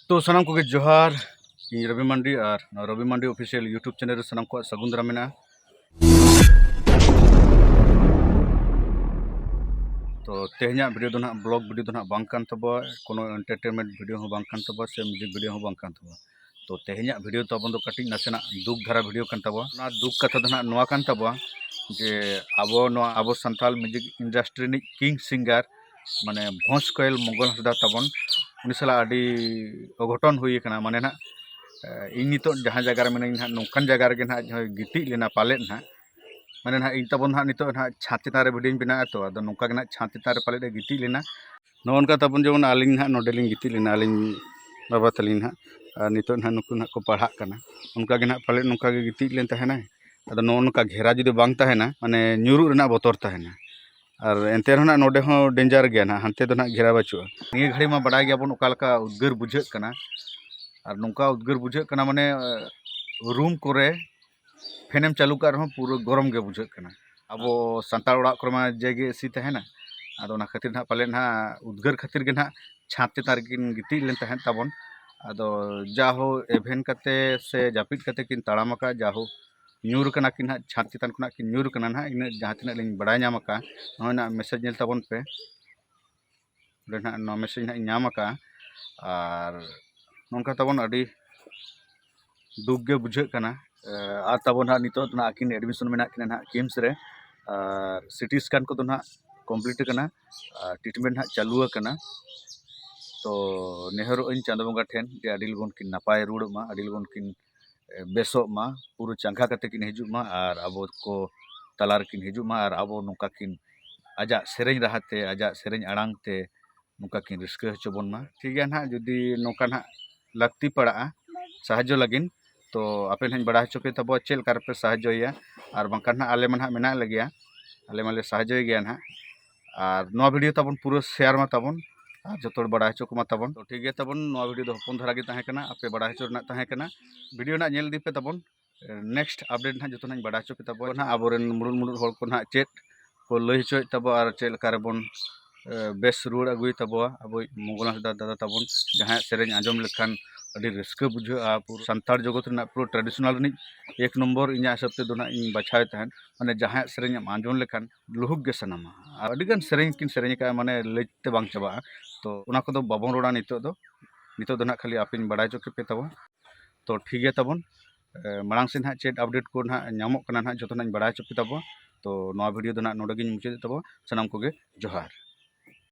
ᱛᱚ ᱥᱟᱱᱟᱢ ᱠᱚᱜᱮ ᱡᱚᱦᱟᱨ ᱤᱧ ᱨᱚᱵᱤ ᱢᱟᱱᱰᱤ ᱟᱨ ᱱᱚᱣᱟ ᱨᱚᱵᱤ ᱢᱟᱱᱰᱤ ᱚᱯᱷᱤᱥᱤᱭᱟᱞ ᱤᱭᱩᱴᱩᱵᱽ ᱪᱮᱱᱮᱞ ᱨᱮ ᱥᱟᱱᱟᱢ ᱠᱚᱣᱟᱜ ᱥᱟᱹᱜᱩᱱ ᱫᱟᱨᱟᱢ ᱢᱮᱱᱟᱜᱼᱟ ᱛᱚ ᱛᱮᱦᱮᱧᱟᱜ ᱵᱷᱤᱰᱤᱭᱳ ᱫᱚ ᱱᱟᱦᱟᱜ ᱵᱞᱚᱜ ᱵᱷᱤᱰᱤᱭᱳ ᱫᱚ ᱱᱟᱦᱟᱜ ᱵᱟᱝ ᱠᱟᱱ ᱛᱟᱵᱚᱣᱟ ᱠᱳᱱᱳ ᱮᱱᱴᱟᱨᱴᱮᱱᱢᱮᱱᱴ ᱵᱷᱤᱰᱤᱭᱳ ᱦᱚᱸ ᱵᱟᱝ ᱠᱟᱱ ᱛᱟᱵᱚᱣᱟ ᱥᱮ ᱢᱤᱭᱩᱡᱤᱠ ᱵᱷᱤᱰᱤᱭᱳ ᱦᱚᱸ ᱵᱟᱝ ᱠᱟᱱ ᱛᱟᱵᱚᱣᱟ ᱛᱚ ᱛᱮᱦᱮᱧᱟᱜ ᱵᱷᱤᱰᱤᱭᱳ ᱛᱟᱵᱚᱱ ᱫᱚ ᱠᱟᱹᱴᱤᱡ ᱱᱟᱥᱮᱱᱟᱜ ᱫᱩᱠ ᱫᱷᱟᱨᱟ ᱵᱷᱤᱰᱤᱭᱳ ᱠᱟᱱ ᱛᱟᱵᱚᱣᱟ ᱚᱱᱟ ᱫᱩᱠ ᱠᱟᱛᱷᱟ ᱫᱚ ᱱᱟᱦᱟᱜ ᱱᱚᱣᱟ ᱠᱟᱱ ᱛᱟᱵᱚᱣᱟ ᱡᱮ ᱟᱵᱚ ᱱᱚᱣᱟ ᱟᱵᱚ ᱥᱟᱱᱛᱟᱲ ᱢᱤᱭᱩᱡᱤᱠ ᱤᱱᱰᱟᱥᱴᱨᱤ ᱨᱤᱱᱤᱡ ᱠᱤᱝ ᱥᱤᱝᱜᱟᱨ ᱢᱟᱱᱮ ᱵᱷᱚᱸᱡᱽ ᱠᱚᱭᱮᱞ ᱢᱚᱝᱜᱚᱞ ᱦᱟᱸᱥᱫᱟ ᱛᱟᱵᱚᱱ ᱩᱱᱤ ᱥᱟᱞᱟᱜ ᱟᱹᱰᱤ ᱚᱜᱷᱚᱴᱚᱱ ᱦᱩᱭ ᱠᱟᱱᱟ ᱢᱟᱱᱮ ᱦᱟᱸᱜ ᱤᱧ ᱱᱤᱛᱚᱜ ᱡᱟᱦᱟᱸ ᱡᱟᱭᱜᱟ ᱨᱮ ᱢᱤᱱᱟᱹᱧᱟ ᱦᱟᱸᱜ ᱱᱚᱝᱠᱟᱱ ᱡᱟᱭᱜᱟ ᱨᱮᱜᱮ ᱦᱟᱸᱜ ᱟᱡ ᱜᱤᱛᱤᱡ ᱞᱮᱱᱟᱭ ᱯᱟᱞᱮᱫ ᱦᱟᱸᱜ ᱢᱟᱱᱮ ᱦᱟᱸᱜ ᱤᱧ ᱛᱟᱵᱚᱱ ᱦᱟᱸᱜ ᱱᱤᱛᱚᱜ ᱦᱟᱸᱜ ᱪᱷᱟᱸᱫᱽ ᱪᱮᱛᱟᱱ ᱨᱮ ᱵᱷᱤᱰᱭᱳᱧ ᱵᱮᱱᱟᱣ ᱮᱫᱟ ᱛᱚ ᱟᱫᱚ ᱱᱚᱝᱠᱟ ᱜᱮ ᱦᱟᱸᱜ ᱪᱷᱟᱸᱫᱽ ᱪᱮᱛᱟᱱ ᱨᱮ ᱯᱟᱞᱮᱫ ᱮ ᱜᱤᱛᱤᱡ ᱞᱮᱱᱟ ᱱᱚᱜᱼᱚ ᱱᱚᱝᱠᱟ ᱛᱟᱵᱚᱱ ᱡᱮᱢᱚᱱ ᱟᱹᱞᱤᱧ ᱦᱟᱸᱜ ᱱᱚᱰᱮ ᱞᱤᱧ ᱜᱤᱛᱤᱡ ᱞᱮᱱᱟ ᱟᱹᱞᱤᱧ ᱵᱟᱵᱟ ᱛᱟᱹᱞᱤᱧ ᱦᱟᱸᱜ ᱟᱨ ᱱᱤᱛᱚᱜ ᱦᱟᱸᱜ ᱱᱩᱠᱩ ᱦᱟᱸᱜ ᱠᱚ ᱯᱟᱲᱦᱟᱜ ᱠᱟᱱᱟ ᱚᱱᱠᱟ ᱜᱮ ᱦᱟᱸᱜ ᱯᱟᱞᱮᱫ ᱱᱚᱝᱠᱟ ᱜᱮ ᱜᱤᱛᱤᱡ ᱞᱮᱱ ᱛᱟᱦᱮᱱᱟᱭ ᱟᱫᱚ ᱱᱚᱜᱼᱚ ᱱᱚᱝᱠᱟ ᱜᱷᱮᱨᱟ ᱡᱩᱫᱤ ᱵᱟᱝ ᱛᱟᱦᱮᱱᱟ ᱢᱟᱱᱮ ᱧᱩᱨᱩᱜ ᱨᱮᱱᱟᱜ ᱵᱚᱛᱚᱨ ᱛᱟᱦᱮᱱᱟ ᱟᱨ ᱮᱱᱛᱮ ᱨᱮᱦᱚᱸ ᱱᱟᱦᱟᱜ ᱱᱚᱰᱮ ᱦᱚᱸ ᱰᱮᱧᱡᱟᱨ ᱜᱮᱭᱟ ᱱᱟᱦᱟᱜ ᱦᱟᱱᱛᱮ ᱫᱚ ᱱᱟᱦᱟᱜ ᱜᱷᱮᱨᱟ ᱵᱟᱹᱪᱩᱜᱼᱟ ᱱᱤᱭᱟᱹ ᱜᱷᱟᱹᱲᱤ ᱢᱟ ᱵᱟᱰᱟᱭ ᱜᱮᱭᱟ ᱵᱚᱱ ᱚᱠᱟ ᱞᱮᱠᱟ ᱩᱫᱽᱜᱟᱹᱨ ᱵᱩᱡᱷᱟᱹᱜ ᱠᱟᱱᱟ ᱟᱨ ᱱᱚᱝᱠᱟ ᱩᱫᱽᱜᱟᱹᱨ ᱵᱩᱡᱷᱟᱹᱜ ᱠᱟᱱᱟ ᱢᱟᱱᱮ ᱨᱩᱢ ᱠᱚᱨᱮ ᱯᱷᱮᱱ ᱮᱢ ᱪᱟᱹᱞᱩ ᱠᱟᱜ ᱨᱮᱦᱚᱸ ᱯᱩᱨᱟᱹ ᱜᱚᱨᱚᱢ ᱜᱮ ᱵᱩᱡᱷᱟᱹᱜ ᱠᱟᱱᱟ ᱟᱵᱚ ᱥᱟᱱᱛᱟᱲ ᱚᱲᱟᱜ ᱠᱚᱨᱮ ᱢᱟ ᱡᱮ ᱜᱮ ᱮᱥᱤ ᱛᱟᱦᱮᱱᱟ ᱟᱫᱚ ᱚᱱᱟ ᱠᱷᱟᱹᱛᱤᱨ ᱱᱟᱦᱟᱜ ᱯᱟᱞᱮᱱ ᱱᱟᱦᱟᱜ ᱩᱫᱽᱜᱟᱹᱨ ᱠᱷᱟᱹᱛᱤᱨ ᱜᱮ ᱱᱟᱦᱟᱜ ᱪᱷᱟᱸᱫᱽ ᱪᱮᱛᱟᱱ ᱨᱮᱠᱤᱱ ᱜᱤᱛᱤᱡ ᱞᱮᱱ ᱛᱟᱦᱮᱸᱫ ᱛᱟᱵᱚᱱ ᱟᱫᱚ ᱡᱟᱭᱦᱳᱠ ᱮᱵᱷᱮᱱ ᱠᱟᱛᱮᱫ ᱥᱮ ᱡᱟᱹᱯᱤᱫ ᱠᱟᱛᱮᱫ ᱠᱤᱱ ᱛᱟᱲᱟᱢ ᱟᱠᱟᱫ ᱡᱟᱭᱦᱳᱠ ᱧᱩᱨ ᱠᱟᱱᱟ ᱠᱤᱱ ᱦᱟᱸᱜ ᱪᱷᱟᱸᱫᱽ ᱪᱮᱛᱟᱱ ᱠᱷᱚᱱᱟᱜ ᱠᱤᱱ ᱧᱩᱨ ᱠᱟᱱᱟ ᱦᱟᱸᱜ ᱤᱱᱟᱹᱜ ᱡᱟᱦᱟᱸ ᱛᱤᱱᱟᱹᱜ ᱞᱤᱧ ᱵᱟᱲᱟᱭ ᱧᱟᱢ ᱠᱟᱜᱼᱟ ᱱᱚᱜᱼᱚᱭ ᱱᱟᱜ ᱢᱮᱥᱮᱡᱽ ᱧᱮᱞ ᱛᱟᱵᱚᱱ ᱯᱮ ᱚᱸᱰᱮ ᱱᱟᱜ ᱱᱚᱣᱟ ᱢᱮᱥᱮᱡᱽ ᱱᱟᱜ ᱤᱧ ᱧᱟᱢ ᱠᱟᱜᱼᱟ ᱟᱨ ᱱᱚᱝᱠᱟ ᱛᱟᱵᱚᱱ ᱟᱹᱰᱤ ᱫᱩᱠ ᱜᱮ ᱵᱩᱡᱷᱟᱹᱜ ᱠᱟᱱᱟ ᱟᱨ ᱛᱟᱵᱚᱱ ᱦᱟᱸᱜ ᱱᱤᱛᱚᱜ ᱱᱟᱜ ᱟᱹᱠᱤᱱ ᱮᱰᱢᱤᱥᱚᱱ ᱢᱮᱱᱟᱜ ᱠᱤᱱᱟ ᱱᱟᱜ ᱠᱤᱢᱥ ᱨᱮ ᱟᱨ ᱥᱤᱴᱤ ᱥᱠᱮᱱ ᱠᱚᱫᱚ ᱱᱟᱜ ᱠᱚᱢᱯᱞᱤᱴ ᱠᱟᱱᱟ ᱟᱨ ᱴᱨᱤᱴᱢᱮᱱᱴ ᱱᱟᱜ ᱪᱟᱹᱞᱩ ᱟᱠᱟᱱᱟ ᱛᱚ ᱱᱮᱦᱚᱨᱚᱜ ᱟᱹᱧ ᱪᱟᱸᱫᱚ ᱵᱚᱸᱜᱟ ᱴᱷᱮᱱ ᱡᱮ ᱟᱹᱰᱤ ᱞᱚᱜᱚᱱ ᱠᱤᱱ ᱱᱟᱯᱟᱭ ᱨᱩᱣᱟᱹᱲᱚᱜ ᱢᱟ ᱟᱹᱰᱤ ᱞᱚᱜᱚᱱ ᱠᱤᱱ ᱵᱮᱥᱚᱜ ᱢᱟ ᱯᱩᱨᱟᱹ ᱪᱟᱸᱜᱟ ᱠᱟᱛᱮᱫ ᱠᱤᱱ ᱦᱤᱡᱩᱜ ᱢᱟ ᱟᱨ ᱟᱵᱚ ᱠᱚ ᱛᱟᱞᱟ ᱨᱮᱠᱤᱱ ᱦᱤᱡᱩᱜ ᱢᱟ ᱟᱨ ᱟᱵᱚ ᱱᱚᱝᱠᱟ ᱠᱤᱱ ᱟᱡᱟᱜ ᱥᱮᱨᱮᱧ ᱨᱟᱦᱟ ᱛᱮ ᱟᱡᱟᱜ ᱥᱮᱨᱮᱧ ᱟᱲᱟᱝ ᱛᱮ ᱱᱚᱝᱠᱟ ᱠᱤᱱ ᱨᱟᱹᱥᱠᱟᱹ ᱦᱚᱪᱚ ᱵᱚᱱ ᱢᱟ ᱴᱷᱤᱠ ᱜᱮᱭᱟ ᱦᱟᱸᱜ ᱡᱩᱫᱤ ᱱᱚᱝᱠᱟ ᱦᱟᱸᱜ ᱞᱟᱹᱠᱛᱤ ᱯᱟᱲᱟᱜᱼᱟ ᱥᱟᱦᱟᱡᱽᱡᱚ ᱞᱟᱹᱜᱤᱫ ᱛᱚ ᱟᱯᱮ ᱦᱟᱸᱜ ᱵᱟᱲᱟᱭ ᱦᱚᱪᱚ ᱯᱮ ᱛᱟᱵᱚᱣᱟ ᱪᱮᱫ ᱞᱮᱠᱟ ᱨᱮᱯᱮ ᱥᱟᱦᱟᱡᱽᱡᱚᱭᱮᱭᱟ ᱟᱨ ᱵᱟᱝᱠᱷᱟᱱ ᱦᱟᱸᱜ ᱟᱞᱮ ᱢᱟ ᱦᱟᱸᱜ ᱢᱮᱱᱟᱜ ᱞᱮᱜᱮᱭᱟ ᱟᱞᱮ ᱢᱟᱞᱮ ᱥᱟᱦᱟᱡᱽᱡᱚᱭᱮ ᱜᱮᱭᱟ ᱦᱟᱸᱜ ᱟᱨ ᱱᱚᱣᱟ ᱵᱷᱤᱰᱤᱭᱳ ᱛᱟᱵᱚᱱ ᱯᱩᱨᱟᱹ ᱥᱮᱭᱟᱨ ᱢᱟ ᱛᱟᱵᱚᱱ ᱟᱨ ᱡᱚᱛᱚ ᱦᱚᱲ ᱵᱟᱲᱟᱭ ᱦᱚᱪᱚ ᱠᱚᱢᱟ ᱛᱟᱵᱚᱱ ᱛᱚ ᱴᱷᱤᱠ ᱜᱮᱭᱟ ᱛᱟᱵᱚᱱ ᱱᱚᱣᱟ ᱵᱷᱤᱰᱤᱭᱳ ᱫᱚ ᱦᱚᱯᱚᱱ ᱫᱷᱟᱨᱟ ᱜᱮ ᱛᱟᱦᱮᱸ ᱠᱟᱱᱟ ᱟᱯᱮ ᱵᱟᱲᱟᱭ ᱦᱚᱪᱚ ᱨᱮᱱᱟᱜ ᱛᱟᱦᱮᱸ ᱠᱟᱱᱟ ᱵᱷᱤᱰᱤᱭᱳ ᱱᱟᱜ ᱧᱮᱞ ᱤᱫᱤ ᱯᱮ ᱛᱟᱵᱚᱱ ᱱᱮᱠᱥᱴ ᱟᱯᱰᱮᱴ ᱱᱟᱜ ᱡᱚᱛᱚ ᱱᱟᱜ ᱵᱟᱲᱟᱭ ᱦᱚᱪᱚ ᱯᱮ ᱛᱟᱵᱚᱱ ᱱᱟᱜ ᱟᱵᱚᱨᱮᱱ ᱢᱩᱬᱩᱛ ᱢᱩᱬᱩᱛ ᱦᱚᱲ ᱠᱚ ᱱᱟᱜ ᱪᱮᱫ ᱠᱚ ᱞᱟᱹᱭ ᱦᱚᱪᱚᱭᱮᱫ ᱛᱟᱵᱚ ᱟᱨ ᱪᱮᱫ ᱞᱮᱠᱟ ᱨᱮᱵᱚᱱ ᱵᱮᱥ ᱨᱩᱣᱟᱹᱲ ᱟᱹᱜᱩᱭ ᱛᱟᱵᱚᱣᱟ ᱟᱵᱚ ᱢᱚᱝᱜᱚᱞ ᱦᱟᱸᱥᱫᱟ ᱫᱟᱫᱟ ᱛᱟᱵᱚᱱ ᱡᱟᱦᱟᱸᱭᱟᱜ ᱥᱮᱨᱮᱧ ᱟᱸᱡᱚᱢ ᱞᱮᱠᱷᱟᱱ ᱟᱹᱰᱤ ᱨᱟᱹᱥᱠᱟᱹ ᱵᱩᱡᱷᱟᱹᱜᱼᱟ ᱯᱩᱨᱟᱹ ᱥᱟᱱᱛᱟᱲ ᱡᱚᱜᱚᱛ ᱨᱮᱱᱟᱜ ᱯᱩᱨᱟᱹ ᱴᱨᱟᱰᱤᱥᱚᱱᱟᱞ ᱨᱤᱱᱤᱡ ᱮᱠ ᱱᱚᱢᱵᱚᱨ ᱤᱧᱟᱹᱜ ᱦᱤᱥᱟᱹᱵ ᱛᱮᱫᱚ ᱱᱟᱜ ᱤᱧ ᱵᱟᱪᱷᱟᱣᱮ ᱛᱟᱦᱮᱸᱫ ᱢᱟᱱᱮ ᱡᱟᱦᱟᱸᱭᱟᱜ ᱥᱮᱨᱮᱧ ᱮᱢ ᱟᱸᱡᱚᱢ ᱞᱮᱠᱷᱟᱱ ᱞᱩᱦᱩᱠ ᱜᱮ ᱥᱟᱱᱟᱢᱟ ᱟᱨ ᱟᱹᱰᱤ ᱜᱟᱱ ᱥᱮᱨᱮᱧ ᱠᱤᱱ ᱥᱮᱨᱮᱧ ᱠᱟᱜᱼᱟ ᱢᱟᱱᱮ ᱞᱟᱹᱭ ᱛᱮ ᱵᱟᱝ ᱪᱟᱵᱟᱜᱼᱟ ᱛᱚ ᱚᱱᱟ ᱠᱚᱫᱚ ᱵᱟᱵᱚᱱ ᱨᱚᱲᱟ ᱱᱤᱛᱚᱜ ᱫᱚ ᱱᱤᱛᱚᱜ ᱫᱚ ᱦᱟᱸᱜ ᱠᱷᱟᱹᱞᱤ ᱟᱯᱮᱧ ᱵᱟᱲᱟᱭ ᱦᱚᱪᱚ ᱠᱮᱯᱮ ᱛᱟᱵᱚᱱ ᱛᱚ ᱴᱷᱤᱠ ᱜᱮᱭᱟ ᱛᱟᱵᱚᱱ ᱢᱟᱲᱟᱝ ᱥᱮᱫ ᱦᱟᱸᱜ ᱪᱮᱫ ᱟᱯᱰᱮᱴ ᱠᱚ ᱦᱟᱸᱜ ᱧᱟᱢᱚᱜ ᱠᱟᱱᱟ ᱦᱟᱸᱜ ᱡᱚᱛᱚ ᱦᱟᱸᱜ ᱤᱧ ᱵᱟᱲᱟᱭ ᱦᱚᱪᱚ ᱯᱮ ᱛᱟᱵᱚᱱ ᱛᱚ ᱱᱚᱣᱟ ᱵᱷᱤᱰᱤᱭᱳ ᱫᱚ ᱦᱟᱸᱜ ᱱᱚᱰᱮ ᱜᱤᱧ ᱢᱩᱪᱟᱹᱫᱮᱫ ᱛᱟᱵᱚᱱ ᱥᱟᱱᱟᱢ ᱠᱚᱜᱮ ᱡᱚᱦᱟᱨ